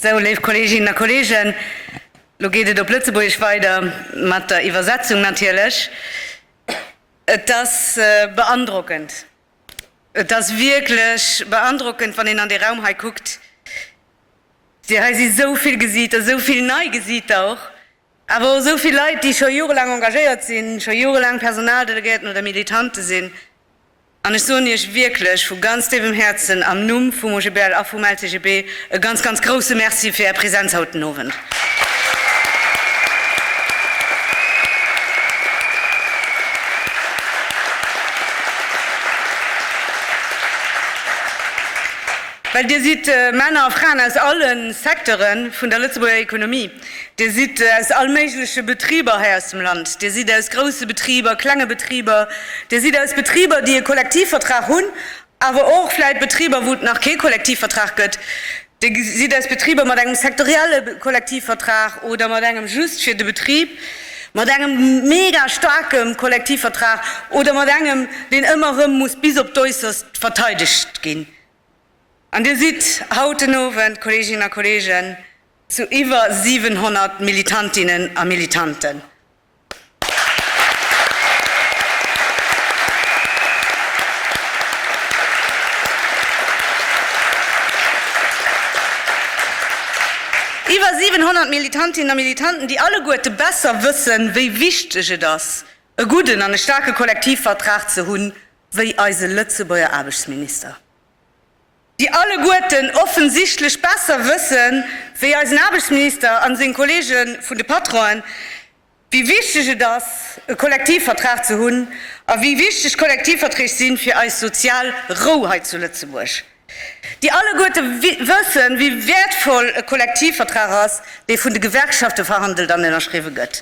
Sou, léif Kolleeginnen a Kolleegen, elo geet et op Lëtzebuergesch weider, mat der Iwwersetzung natierlech. Et ass beandrockend, et ass wierklech beandrockend, wann een an dee Raum hei kuckt. Dir, hei si sou vill Gesiiter, sou vill nei Gesiiter och, awer och sou vill Leit, déi scho jorelaang engagéiert sinn, scho jorelaang Personaldelegéierten oder Militante sinn. An ech soen Iech wierklech vu ganz déiwem Häerzen am Numm vum OGBL a vum LCGB e ganz, ganz grouse Merci fir Är Präsenz haut den Owend. Well Dir sidd Männer a Fraen aus alle Secteure vun der Lëtzebuerger Ekonomie. Dir sidd aus allméigleche Betriber hei aus dem Land. Dir sidd aus grousse Betriber, klenge Betriber. Dir sidd aus Betriber, déi e Kollektivvertrag hunn, awer och vläicht Betriber, wou et nach kee Kollektivvertrag gëtt. Dir sidd aus Betriber mat engem sektorielle Kollektivvertrag oder mat engem just fir de Betrib, mat engem mega staarke Kollektivvertrag oder mat engem, deen ëmmer erëm muss bis op d'Äusserst verteidegt ginn. An Dir sidd haut den Owend, Kolleeginnen a Kolleegen, zu iwwer 700 Militantinnen a Militanten. Iwwer 700 Militantinnen a Militanten, déi alleguerte besser wëssen, wéi wichteg et ass, e gudden an e staarke Kollektivvertrag ze hunn, wéi eise Lëtzebuerger Aarbechtsminister, déi alleguerten offensichtlech besser wësse wéi eisen Aarbechtsminister a seng Kollege vun de Patronen, wéi wichteg et ass, e Kollektivvertrag ze hunn a wéi wichteg Kollektivverträg si fir eis sozial Rou hei zu Lëtzebuerg. déi alleguerte wëssen, wéi wäertvoll e Kollektivvertrag ass, dee vun de Gewerkschafte verhandelt an ënnerschriwwe gëtt.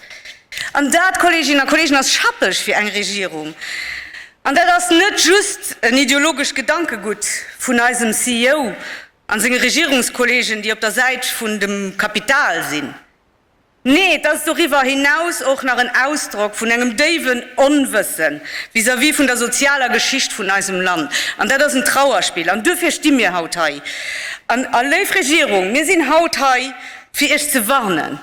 An dat, Kolleeginnen a Kolleegen, ass schappeg fir eng Regierung. An dat ass net just en ideologescht Gedankegutt vun eisem CEO a senge Regierungskollegen, déi op der Säit vun dem Kapital sinn. Nee, et ass doriwwer hinaus och nach en Ausdrock vun engem déiwen Onwësse vis-à-vis vun der sozialer Geschicht vun eisem Land. An dat ass en Trauerspill. An duerfir sti mir haut hei. An, a léif Regierung, mir sinn haut hei, fir Iech ze warnen,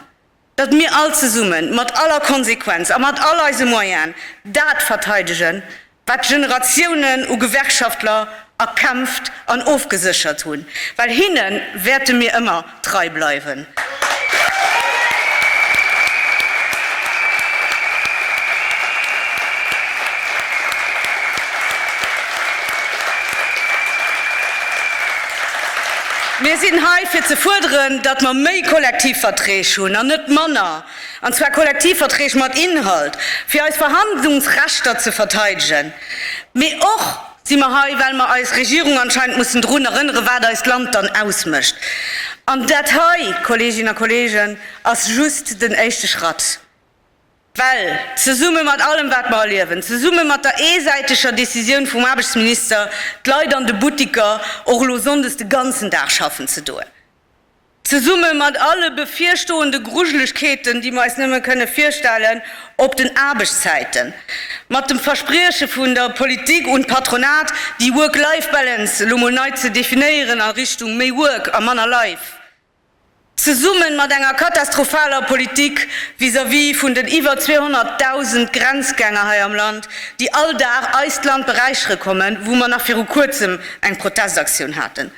datt mir all zesummen, mat aller Konsequenz a mat all eise Moyen, dat verteidegen, wat Generatiounen u Gewerkschaftler erkämpft an ofgeséchert hunn, well hinne wäerte mir ëmmer trei bleiwen. Mir sinn hei fir ze fuerderen, datt mer méi Kollektivverträg hunn an net manner. an zwar Kollektivverträg mat Inhalt, fir eis Verhandlungsrechter ze verteidegen, mee och si mer hei, well mer eis Regierung anscheinend mussen drun erënneren, wat eist Land dann ausmécht. An dat hei, Kolleeginnen a Kolleegen, ass just den éischte Schratt, well zesumme mat allem, wat mer erliewen, zesumme mat der eesäiteger Décisioun vum Aarbechtsminister, d'Leit an de Buttiker och elo sonndes de ganzen Dag schaffen ze doen, Zesumme mat alle bevirstoende Grujelegkeeten, déi mer eis nëmme kënne virstellen, op den Aarbechtszäiten, mat dem Versprieche vun der Politik un d'Patronat, déi Work-Life-Balance elo mol nei ze definéieren a Richtung méi Work a manner Life, zesumme mat enger katastrophaler Politik vis-à-vis vun den iwwer 200.000 Grenzgänger hei am Land, déi all Dag eist Land beräichere kommen, wou mer nach viru Kuerzem eng Protestaktioun haten.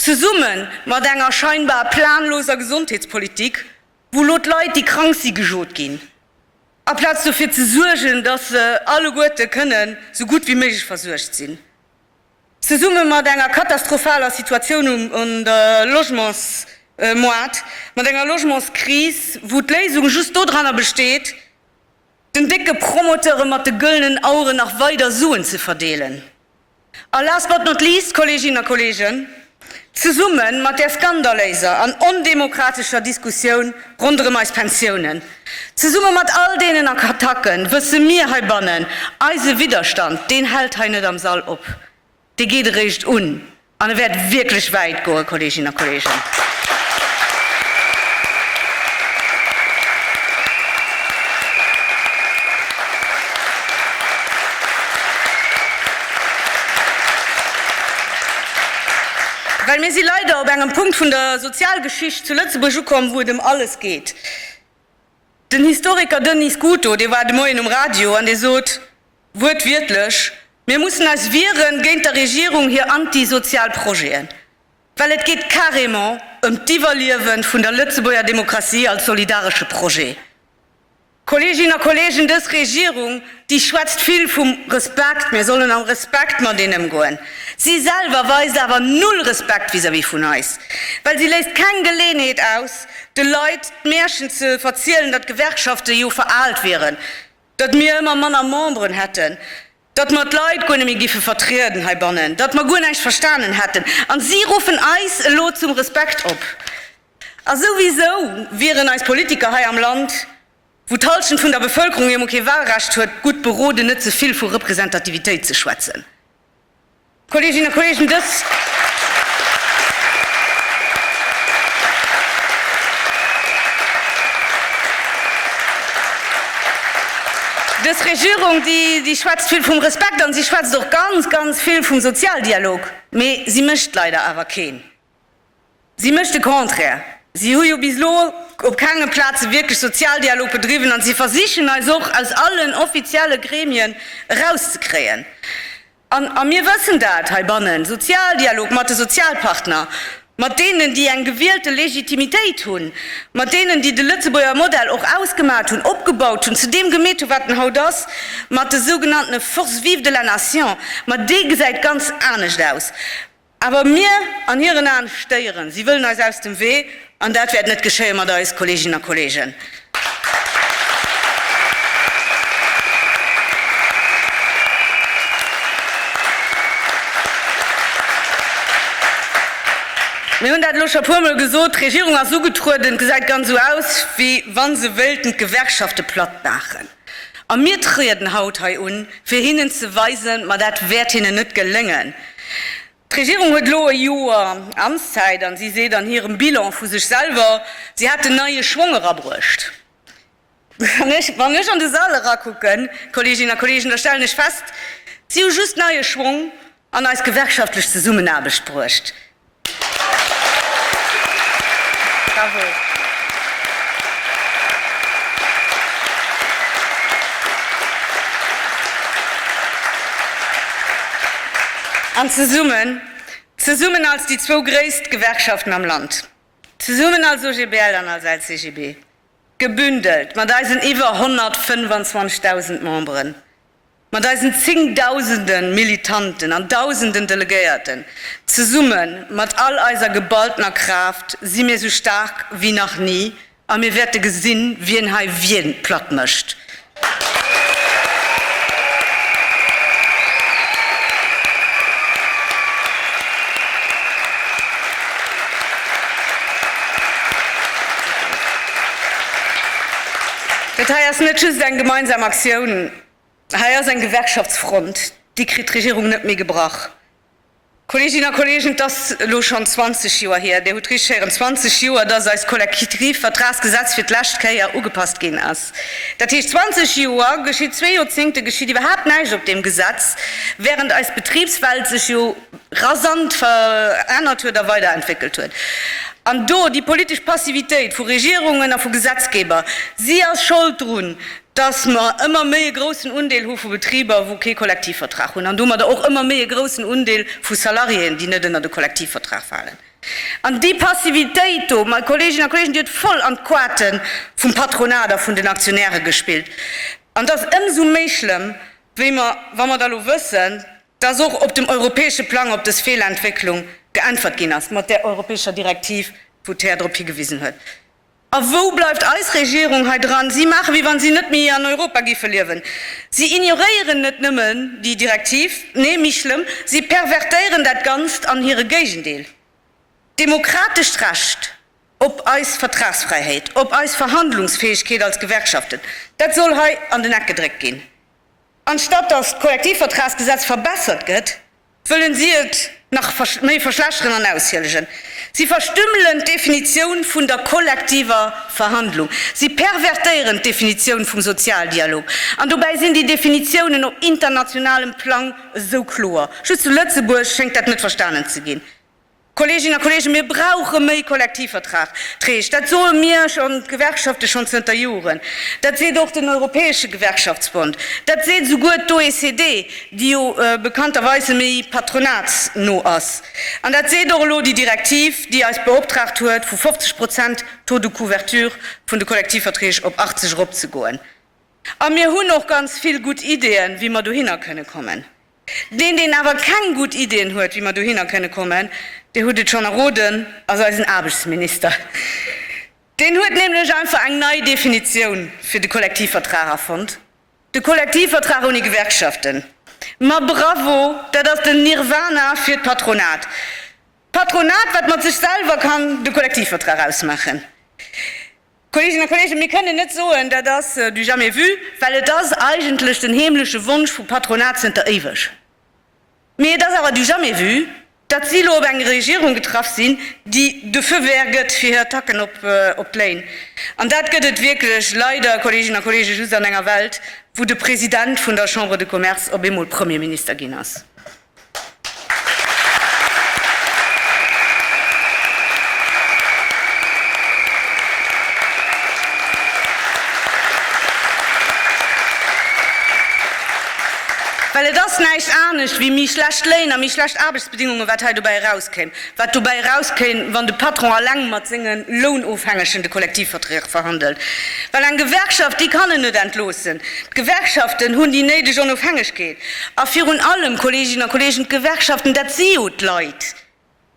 Zesumme mat enger scheinbar planloser Gesondheetspolitik, wou elo d'Leit, déi krank si gejot ginn, aplaz dofir ze suergen, datt se alleguerte kënnen esou gutt wéi méiglech versuergt sinn. Zesumme mat enger katastrophaler Situatioun um Logementsmoart, mat enger Logementskris, wou d'Léisung just dodranner besteet, Den décke Promoteure mat de gëllenen Aueren nach weider Suen ze verdeelen. A last but not least, Kolleeginnen a Kolleegen, zesumme mat där skandaléiser an ondemokratescher Diskussioun ronderëm eis Pensiounen, zesumme mat all deenen Attacken, wësse mir heibannen, Eise Widderstand, deen hält hei net am Sall op. Dee geet eréischt un an e wäert wierklech wäit goen, Kolleeginnen a Kolleegen. Well mir si leider op engem Punkt vun der Sozialgeschicht zu Lëtzebuerg ukomm, wou et ëm alles geet. Den Historiker Denis Scuto, dee war de Moien um Radio an dee sot wuertwiertlech, Mir mussen eis wiere géint der Regierung hir antisozial Projeten, well et geet carrément ëm d'Iwwerliewe vun der Lëtzebuerger Demokratie als solidaresche Projet. Kolleeginnen a Kolleegen, dës Regierung, Si schwätzt vill vum Respekt, mir sollen am Respekt mat een ëmgoen. Si selwer weist awer null Respekt vis-à-vis vun eis, well si léisst keng Geleeënheet aus, de Leit d'Märchen ze verzielen, datt d'Gewerkschafte jo veraalt wieren, datt mir ëmmer manner Memberen hätten, datt mer d'Leit guer net méi giffe vertrieden heibannen, datt mer guer näischt verstanen hätten. A si ruffen eis elo zum Respekt op. A souwisou wieren eis Politiker hei am Land wou d'Halschent vun der Bevëlkerung emol kee Wahlrecht huet, gutt beroden, net ze vill vu Representativitéit ze schwätzen. Kolleeginnen a Kolleegen, dës. Dës Regierung, déi, déi schwätzt vill vum Respekt an si schwätzt och ganz, ganz vill vum Sozialdialog, mee si mécht leider awer keen. Si mécht de Contraire. Si hu jo bis elo op kenge Plaze wierklech Sozialdialog bedriwwen a si versichen eis och aus allen offizielle Gremien erauszekréien. A mir wëssen dat heibannen, Sozialdialog mat de Sozialpartner, mat deenen, déi eng gewielte Legitimitéit hunn, mat deenen, déi de Lëtzebuerger Modell och ausgemat hunn, opgebaut hunn, zu deem gemeet hunn, wat en haut ass, mat de sougenanntene Forces vives de la nation. Ma dee gesäit ganz anescht aus. Awer mir, an hiren Aen, stéieren. Si wëllen eis aus dem Wee, an dat wäert net geschéie mat eis, Kolleeginnen a Kolleegen. Mir hunn dat elo scho puermol gesot, D'Regierung ass ugetrueden, gesäit ganz esou aus, wéi wa se wéilten d'Gewerkschafte platt maachen. A mir trieden haut hei un, fir hinnen ze weisen, ma dat wäert hinnen net geléngen. D'Regierung huet elo e Joer Amtszäit a si seet an hirem Bilan vu sech selwer, si hätten neie Schwong erabruecht. Wann ech an de Sall erakucken, Kolleeginnen a Kolleegen, da stellen ech fest, Si hu just neie Schwong, an eis gewerkschaftlech Zesummenaarbecht bruecht. An zesummen, zesummen als déi zwou gréisst Gewerkschaften am Land, zesummen als OGBL an als LCGB, gebündelt mat eisen iwwer 125.000 Memberen, Mat eisen zéngdausende Militanten an dausenden Delegéierten, zesumme mat all eiser geballtener Kraaft si mir esou staark wéi nach ni a mir wäerte gesinn, wien hei wien platt mécht. Dat hei ass net just eng gemeinsam Aktioun. Hei ass eng Gewerkschaftsfront, déi kritt d'Regierung net méi gebrach. Kolleeginnen a Kolleegen, et ass elo schonn 20 Joer hier, Dir hutt richteg héieren, 20 Joer, dass eist Kollektivvertragsgesetz fir d'lescht Kéier ugepasst ginn ass. Dat heescht, 20 Joer geschitt, zwee Joerzéngte geschitt iwwerhaapt näischt op deem Gesetz, während eis Betribswelt sech jo rasant verännert huet a weiderentwéckelt huet. An do, déi politesch Passivitéit vu Regierungen a vu Gesetzgeber, si ass Schold drun, dass mer ëmmer méi e groussen Undeel hu vu Betriber, wou kee Kollektivvertrag hunn, an domadder och ëmmer méi e groussen Undeel vu Salariéen, déi net ënnert e Kollektivvertrag falen. An déi Passivitéit do, mei Kolleeginnen a Kolleegen, déi huet voll an d'Quate vum Patronat a vun den Aktionäre gespillt. An et ass ëmsou méi schlëmm, wéi mer, wa mer da elo wëssen, dass och op dem europäesche Plang op dës Feelentwécklung geäntwert ginn ass mat där europäescher Direktiv, wou d'Här drop higewisen huet. A wou bleift eis Regierung hei dran? Si maachen, wéi wann si net méi an Europa géife liewen. Si ignoréieren net nëmmen déi Direktiv, nee, méi schlëmm, si pervertéieren dat Ganzt an hire Géigendeel. D'demokratescht Recht op eis Vertragsfräihéit, op eis Verhandlungsfäegkeet als Gewerkschaften, dat soll hei an den Eck gedréckt ginn, anstatt datt d'Kollektivvertragsgesetz verbessert gëtt. Wëllen si et nach méi verschlechteren an aushielegen. Si verstümmelen d'Definitioun vun der kollektiver Verhandlung. Si pervertéieren d'Definitioun vum Sozialdialog. An dobäi sinn déi Definitiounen op internationalem Plang esou kloer. Just zu Lëtzebuerg schéngt dat net verstanen ze ginn. Kolleeginnen a Kolleegen, mir brauche méi Kollektivvertrag-träg. Dat soe mir schonn, d'Gewerkschafte schonn zënter Joren. Dat seet och den Europäesche Gewerkschaftsbond. Dat seet souguer d'OECD, déi jo bekannterweise méi patronatsno ass. An dat seet och elo déi Direktiv, déi eis beoptraagt huet, vu 50 Prozent Taux de couverture vun de Kollektivverträg op 80 eropzegoen. A mir hunn och ganz vill gutt Ideeën, wéi mer dohinner kënne kommen. Deen, deen awer keng gutt Ideen huet, wéi mer dohinner kënne kommen, Dir hutt et schonn erroden, ass eisen Aarbechtsminister. Deen huet nämlech einfach eng nei Definitioun fir de Kollektivvertrag erfonnt, De Kollektivvertrag ouni Gewerkschaften, ma bravo, dat ass den Nirwana fir d'Patronat. D'Patronat, wat mat sech selwer kann de Kollektivvertrag ausmaachen. Kolleeginnen a Kolleegen, mir kënnen net soen, dat ass du jamais vu, well et ass eigentlech den heemleche Wonsch vum Patronat zënter éiweg. Mee et ass awer du jamais vu, datt si elo op eng Regierung getraff sinn, déi de Feu vert gëtt fir hir Attacken op d'Léin. An dat gëtt et wierklech leider, Kolleeginnen a Kolleegen, just an enger Welt, wou de President vun der Chambre de Commerce op eemol Premierminister ginn ass. Well et ass näischt anescht wéi méi schlecht Léin a méi schlecht Aarbechtsbedingungen, wat hei dobäi erauskéim, wat dobäi erauskéim, wann de Patron alleng mat senge Lounofhängegen de Kollektivverträg verhandelt. Well eng Gewerkschaft, déi kann en net entloossen. D'Gewerkschaften hunn déi néideg Onofhängegkeet. A virun allem, Kolleeginnen a Kolleegen, d'Gewerkschaften, dat si jo d'Leit,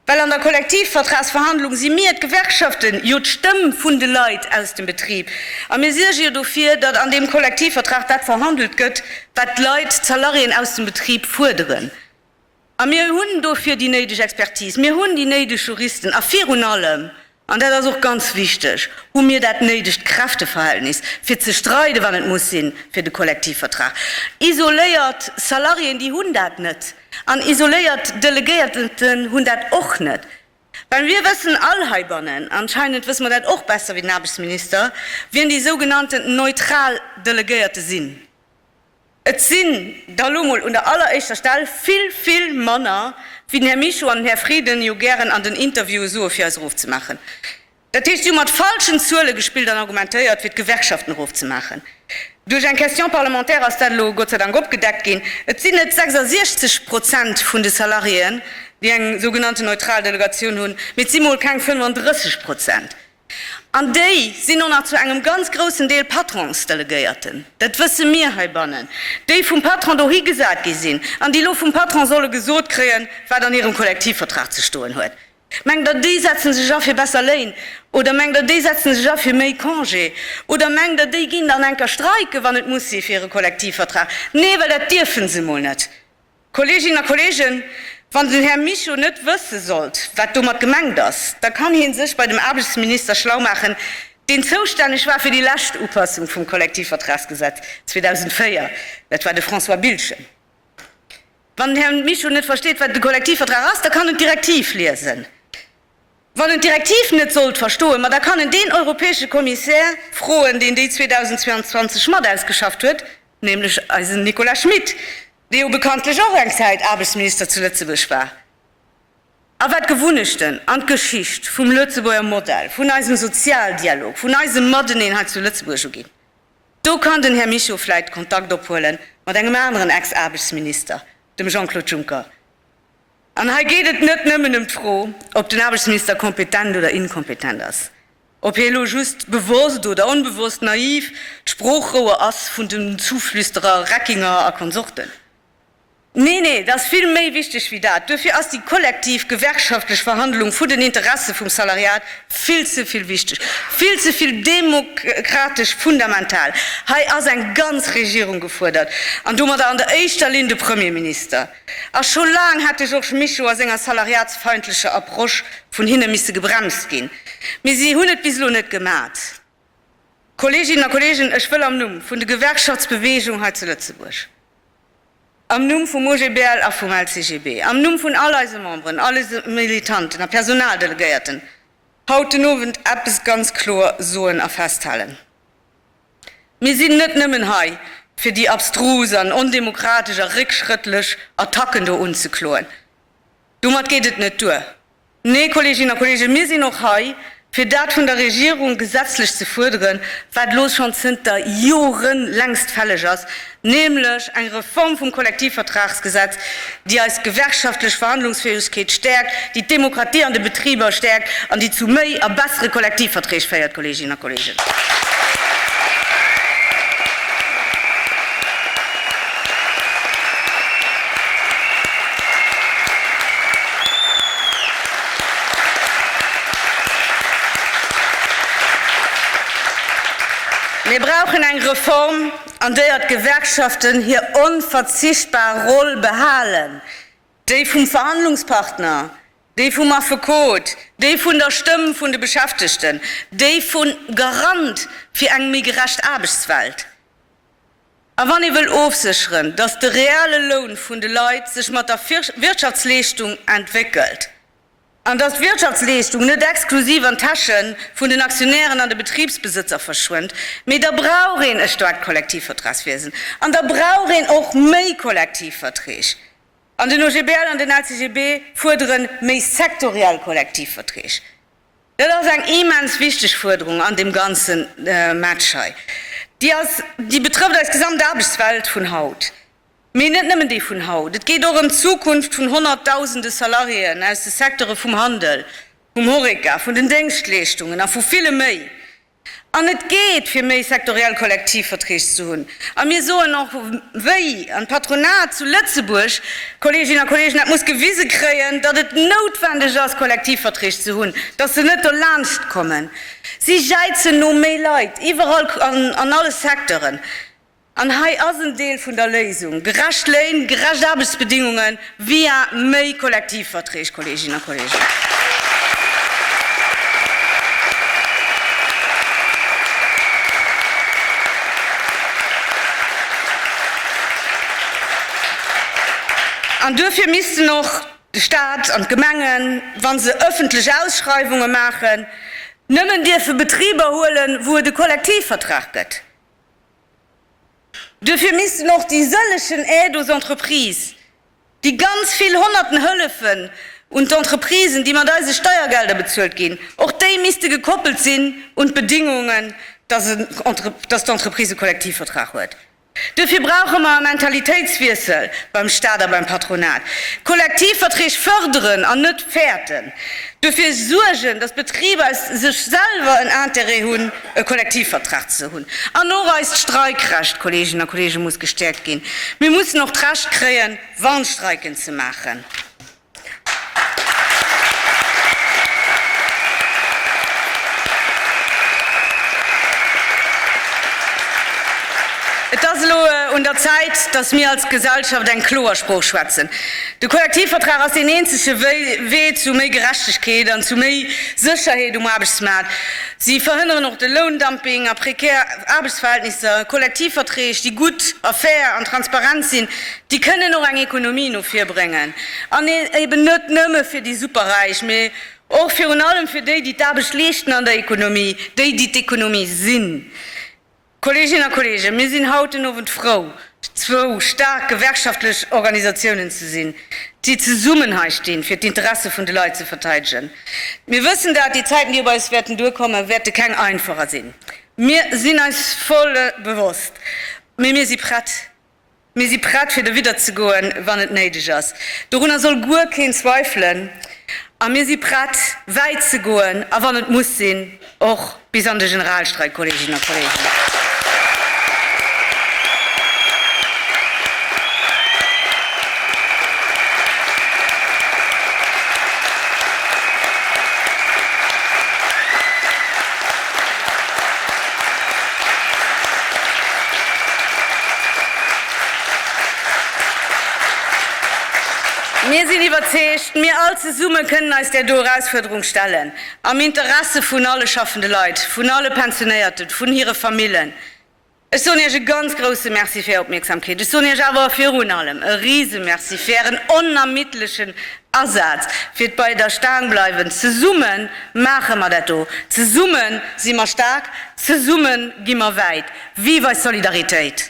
well an der Kollektivvertragsverhandlung si mir, d'Gewerkschaften, jo d'Stëmm vun de Leit aus dem Betrib a mir suerge jo dofir, datt an deem Kollektivvertrag dat verhandelt gëtt, wat d'Leit, d'Salariéen aus dem Betrib fuerderen. A mir hunn dofir déi néideg Expertise, mir hunn déi néideg Juristen a virun allem, an dat ass och ganz wichteg, hu mir dat néidegt Kräfteverhältnis, fir ze streiden, wann et muss sinn, fir de Kollektivvertrag. Isoléiert Salariéen, déi hunn dat net. An isoléiert Delegéierten hunn dat och net. Well mir wëssen all heibannen, anscheinend wësse mer dat och besser wéi den Aarbechtsminister, wien déi sougenannten neutral Delegéierte sinn. Et sinn der elo mol un der alleréischter Stell vill, vill manner, wéi den Här Michaux an den Här Frieden jo gären an den Interviewe soe fir eis erofzemaachen. Dat heescht, si hu mat falschen Zuele gespillt an argumentéiert, fir d'Gewerkschaften erofzemaachen. Duerch eng Question parlementaire ass dat elo Gott sei Dank opgedeckt ginn. Et sinn net 66 Prozent vun de Salariéen, déi eng sougenannte neutral Delegatioun hunn, mee et si mol keng 35 Prozent. An déi sinn och nach zu engem ganz groussen Deel Patronsdelegéierten, dat wësse mir heibannen, déi vum Patron dohi gesat gi sinn an déi elo vum Patron solle gesot kréien, wat an hirem Kollektivvertrag ze stoen huet. Mengt Der, déi setze sech a fir besser Léin? Oder mengt Der, déi setze sech a fir méi Congé? Oder mengt Der, déi ginn dann enker streiken, wann et muss sinn, fir hire Kollektivvertrag? Nee, well dat dierfe se emol net. Kolleeginnen a Kolleegen, wann den Här Mischo net wësse sollt, wat domat gemengt ass, da kann hie sech bei dem Aarbechtsminister schlau maachen, deen zoustänneg war fir déi lescht Upassung vum Kollektivvertragsgesetz 2004, dat war de François Biltgen. Wann den Här Mischo net versteet, wat de Kollektivvertrag ass, da kann en d'Direktiv liesen. Wann en d'Direktiv net sollt verstoen, ma da kann en deen europäesche Kommissär froen, deen déi 2022 mat ausgeschafft huet, nämlech eisen Nicolas Schmit, dee jo bekanntlech och eng Zäit Aarbechtsminister zu Lëtzebuerg war a wat d'Gewunnechten an d'Geschicht vum Lëtzebuerger Modell, vun eisem Sozialdialog, vun eisem Mateneen hei zu Lëtzebuerg uginn, do kann den Här Mischo vläit Kontakt ophuele mat engem aneren Ex-Aarbechtsminister, dem Jean-Claude Juncker. An hei geet et net nëmmen ëm d'Fro, ob den Aarbechtsminister kompetent oder inkompetent ass. Ob hie lo just bewosst oder onbewosst naiv d'Sproochrouer ass vun den Zuflüsterer Reckinger a Konsorten? Nee, nee, et ass vill méi wichteg wéi dat. Duerfir ass déi kollektiv gewerkschaftlech Verhandlung vun den Interesse vum Salariat vill ze vill wichteg, vill ze vill demokratesch fundamental. Hei ass eng ganz Regierung gefuerdert, an domadder an der éischter Linn de Premierminister. A scho laang hätt de Georges Mischo a senger salariatsfeindlecher Approche vun hinne misse gebremst ginn, mee si hunn et bis elo net gemat. Kolleeginnen a Kolleegen, ech wëll am Numm vun de Gewerkschaftsbeweegung hei zu Lëtzebuerg, am Numm vum OGBL a vum LCGB, am Numm vun all eise Memberen, all eise Militanten a Personaldelegéierten haut den Owend eppes ganz kloer soen a festhalen. Mir sinn net nëmmen hei, fir déi abstrus an ondemokratesch a réckschrëttlech Attacken do unzekloen. Domat geet et net duer. Nee, Kolleeginnen a Kolleegen, mir sinn och hei, fir dat vun der Regierung gesetzlech ze fuerderen, wat elo schonn zënter Jore längst fälleg ass, nämlech eng Reform vum Kollektivvertragsgesetz, déi eis gewerkschaftlech Verhandlungsfäegkeet stäerkt, déi d'Demokratie an de Betriber stäerkt an déi zu méi a bessere Kollektivverträg féiert, Kolleeginnen a Kolleegen. Mir brauchen eng Reform, an deier d'Gewerkschaften hir onverzichtbar Roll behalen, déi vum Verhandlungspartner, déi vum Affekot, déi vun der Stëmm vun de Beschäftegten, déi vun Garant fir eng méi gerecht Aarbechtswelt. A wann ee wëll ofsécheren, datt de reale Loun vun de Leit sech mat der Wirtschaftsleeschtung entwéckelt, An dass d'Wirtschaftsleeschtung net exklusiv an d'Täsche vun den Aktionären an de Betribsbesëtzer verschwënnt. Mee da brauch een e staarkt Kollektivvertragswiesen. An da brauch een och méi Kollektivverträg. An den OGBL an den LCGB fuerdere méi sektoriell Kollektivverträg. Dat ass eng immens wichteg Fuerderung an deem ganze Match hei. Déi ass, déi betrëfft eis gesamt Aarbechtswelt vun haut. Mee net nëmmen déi vun haut. Et geet och ëm d'Zukunft vun honnertdausende Salariéen aus de Secteure vum Handel, vum Horeca, vun den Déngschtleeschtungen a vu ville méi. An et geet, fir méi sektoriell Kollektivverträg ze hunn. A mir soen och wéi an d'Patronat zu Lëtzebuerg, Kolleeginnen a Kolleegen, dat muss gewise kréien, datt et noutwendeg ass, Kollektivverträg ze hunn, datt se net dolaanscht kommen. Si jäizen no méi Leit, iwwerall, an alle Secteuren. An hei ass en Deel vun der Léisung, gerecht Léin, gerecht Aarbechtsbedingungen via méi Kollektivverträg, Kolleeginnen a Kolleegen. An duerfir missten och de Stat an d'Gemengen, wa se öffentlech Ausschreiwunge maachen, nëmmen dierfe Betriber huelen, wou et e Kollektivvertrag gëtt. Duerfir missten och déi sëllechen Aides aux entreprises, déi ganz vill honnerten Hëllefen un d'Entreprisen, déi mat eise Steiergelder bezuelt ginn, och déi misste gekoppelt sinn un d'Bedingungen, dass d'Entreprise e Kollektivvertrag huet. Duerfir brauche mer e Mentalitéitswiessel beim Stat a beim Patronat. Kollektivverträg förderen an net fäerten. Duerfir suergen, dass d'Betriber sech selwer en Intérêt hunn. e Kollektivvertrag ze hunn. An och eist Streikrecht, Kolleeginnen a Kolleegen, muss gestäerkt ginn. Mir mussen och d'Recht kréien, Warnstreiken ze maachen. Et ass elo un der Zäit, dass mir als Gesellschaft eng kloer Sprooch schwätzen. De Kollektivvertrag ass deen eenzege Wee zu méi Gerechtegkeet an zu méi Sécherheet um Aarbechtsmaart. Si verhënneren och de Loundumping a prekär Aarbechtsverhältnisser. Kollektivverträg, déi gutt a fair an transparent sinn, déi kënnen och eng Ekonomie no vir bréngen. An eben net nëmme fir déi Superräich, mee och virun allem fir déi, déi d'Aarbecht leeschten an der Ekonomie, déi, déi d'Ekonomie sinn. Kolleeginnen a Kolleegen, mir sinn haut den Owend frou, zwou staark gewerkschaftlech Organisatiounen ze sinn, déi zesummen hei stinn, fir d'Interesse vun de Leit ze verteidegen. Mir wëssen dat, déi Zäiten, déi op eis wäerten duerkommen, wäerte keng einfacher sinn. Mir sinn eis voll bewosst, mee mir si prett. Mir si prett fir derwidder ze goen, wann et néideg ass, dorunner soll guer keen zweifelen, a mir si prett, wäit ze goen, a wann et muss sinn, och bis an de Generalstreik, Kolleeginnen a Kolleegen. Mir sinn iwwerzeegt, mir all zesumme kënnen eis där do Erausfuerderung stellen, am Interesse vun alle schaffende Leit, vun alle Pensionéierten, vun hire Famillen. Ech soen Iech e ganz grousse Merci fir Är Opmierksamkeet. Ech soen Iech awer virun allem e Risemerci fir Ären onermiddlechen Asaz fir d'Bei der Staang bleiwen. Zesumme maache mer dat do, zesumme si mer staark, zesumme gi mer wäit. Vive eis Solidaritéit!